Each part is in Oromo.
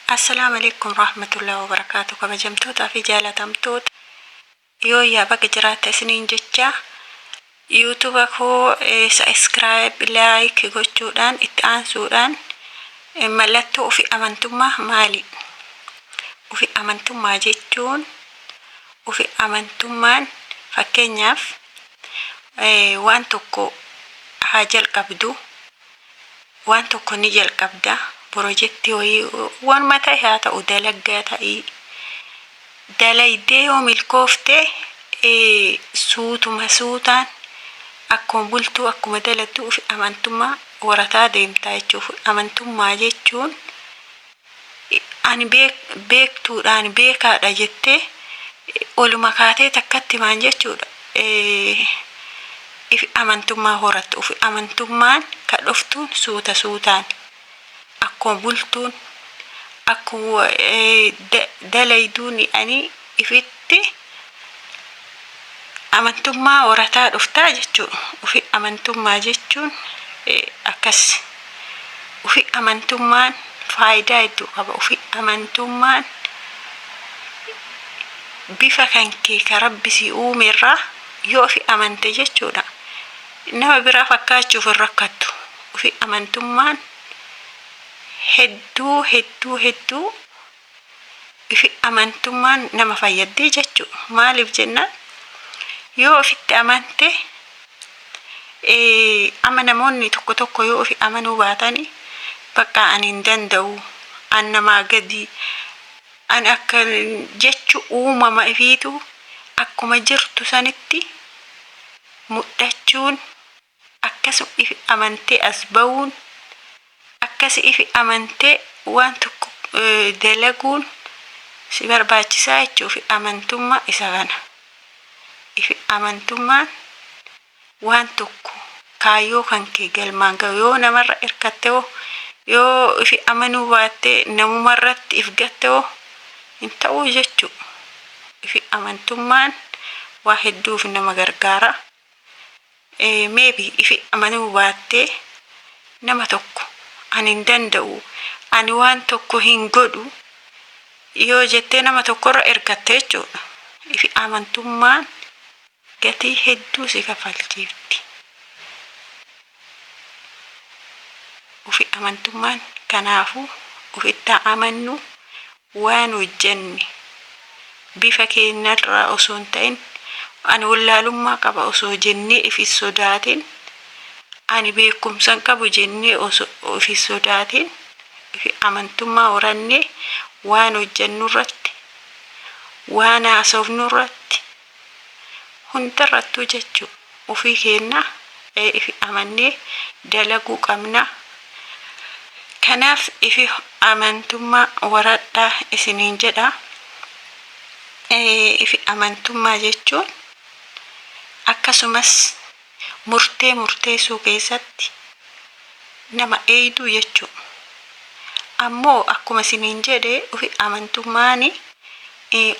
Assalam Aleykum Rahmatullahi Wabarakatuh Kabajamtoota fi Jaalatamtoota Yooyyaa Baga Jiraata Isiniin Jecha YouTube koo Subscribe Like Gochuudhaan Itti Aansuudhaan Mallattoo Ufi Amantummaa Maali? Ufi Amantummaa Jechuun Ufi Amantummaan Fakkeenyaaf Waan Tokko Haa Jalqabdu waan tokko ni jalqabda pirojektii wayii waanuma ta'e haa ta'u dalaggaa ta'ii dalaydee yoo milkoofte suutuma suutaan akkuma bultuu akkuma dalattu ufi amantummaa horataa deemtaa jechuuf amantummaa jechuun ani beektuudha, ani beekaadha jettee oluma kaatee takkatti maan jechuudha ifi amantummaa horattu. Ufi amantummaan ka dhoftuun suuta suutaan akkuma bultuun akkuma dalayduun ani. ifitti amantummaa horataa dhuftaa jechuu ufi amantummaa jechuun akkas ufi amantummaan faayidaa hedduu qaba ufi amantummaan bifa kan kee ka rabbi si uume irraa yoo ufi amante jechuudha nama biraa fakkaachuuf hin rakkattu ufi amantummaan hedduu hedduu hedduu ifi amantummaan nama fayyaddi jechu maaliif jennaan yoo ofitti amante ama namoonni tokko tokko yoo ofi amanuu baatani baqqaa ani hin danda'u an namaa gadii an akka jechu uumama ifiitu akkuma jirtu sanitti mudhachuun Akka si'ifi amantee as ba'uun, akka si'ifi amantee waan tokko dalaguun si barbaachisaa jechuudha. Ifi amantummaa isa kana. Ifi amantummaan waan tokko kaayyoo kan kee galmaan ga'u yoo namarra hirkatte hoo yoo ifi amanuu baattee namumarratti if gatte hoo hin ta'uu jechuudha. Ifi amantummaan waa hedduuf nama gargaara. Maybe ifi amanuu baattee nama tokko ani hin danda'u ani waan tokko hin godhu yoo jettee nama tokkorra ergatte jechuudha. Ifi amantummaan gatii hedduu si kafalchiifti. Ufi amantummaan kanaafuu ufittaa amannu Waan hojjenne bifa keennarraa osoo hin ta'in ani wallaalummaa qaba osoo jennee if hin sodaatin, ani beekumsa hin qabu jennee osoo if hin sodaatin amantummaa horannee waan hojjennurratti, waan haasofnurratti, Hundarrattuu jechu ufii keenna ee ifi amannee dalaguu qabna. Kanaaf ifi amantummaa waradhaa isiniin jedha. Ifi amantummaa jechuun akkasumas. murtee murteessuu keessatti nama eeyduu jechuu ammoo akkuma siniin jedhe ufi amantummaani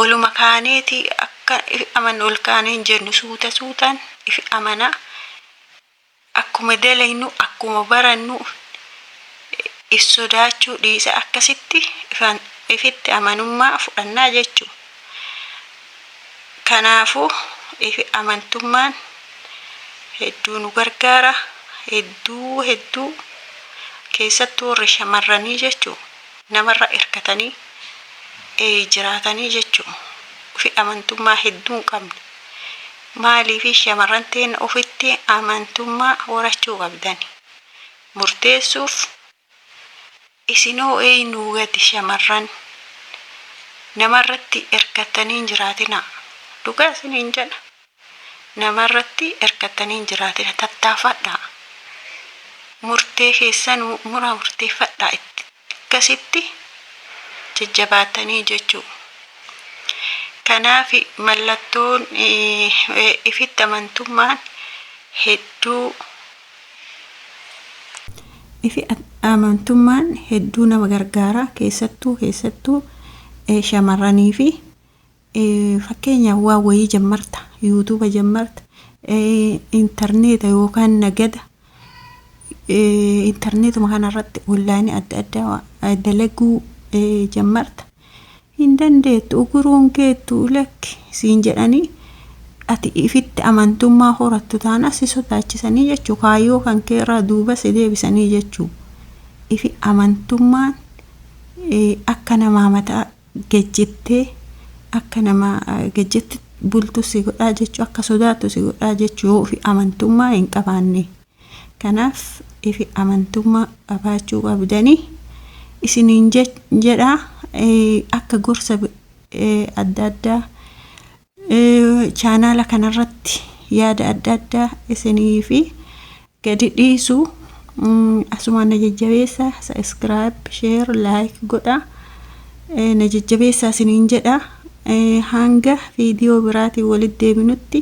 oluma kaaneeti akka ifi amannu ol kaane hin jennu suuta suutan ifi amana akkuma daleynu akkuma barannu if sodaachuu dhiisa akkasitti ifan ifitti amanummaa fudhannaa jechuu Kanaafuu ifi amantummaan hedduu nu gargaara. Hedduu hedduu keessattuu warri shamarranii jechuu namarra hirkatanii eh, jiraatanii jechuu ufi amantummaa hedduu hin qabne. Maaliifi shamarran teenna ufitti amantummaa horachuu qabdani. Murteessuuf Isinoo eeynuu gati shamarran namarratti erkattanii hin jiraatinaa dhugaa isiniin jedha namarratti erkattanii hin jiraatina tattaafadhaa murtee keessanuu muraa murteeffadhaa itti akkasitti jajjabaatanii jechuu kanaafi mallattoon ifitti amantummaan hedduu Ifi amantummaan hedduu nama gargaara keessattuu keessattuu shamarraniifi fakkeenya waa wayii jammarta yuutuuba jammarta intarneeta yookaan nagada intarneetuma kanarratti onlaayinii adda addaa dalaguu jammarta Hin dandeettu, uguruu hin geettu, lakki siin jedhanii ati ifitti amantummaa horattu taanaan si sodaachisanii jechuu, kaayyoo kan kee irraa duuba si deebisanii jechuu. Ifi amantummaan akka namaa mataa gejjittee akka nama gejjetti bultu si godhaa jechuu, akka sodaattu si godhaa jechuu yoo ifi amantummaa hin qabaannee. Kanaaf ifi amantummaa qabaachuu qabdanii isiniin jedha akka gorsa adda addaa chaanaala kanarratti yaada adda addaa isinii fi gadi dhiisu asumaan na jajjabeessa sabiskiraayib sheer laayik godha na jajjabeessa isiniin jedha hanga viidiyoo biraatiin walitti deebinutti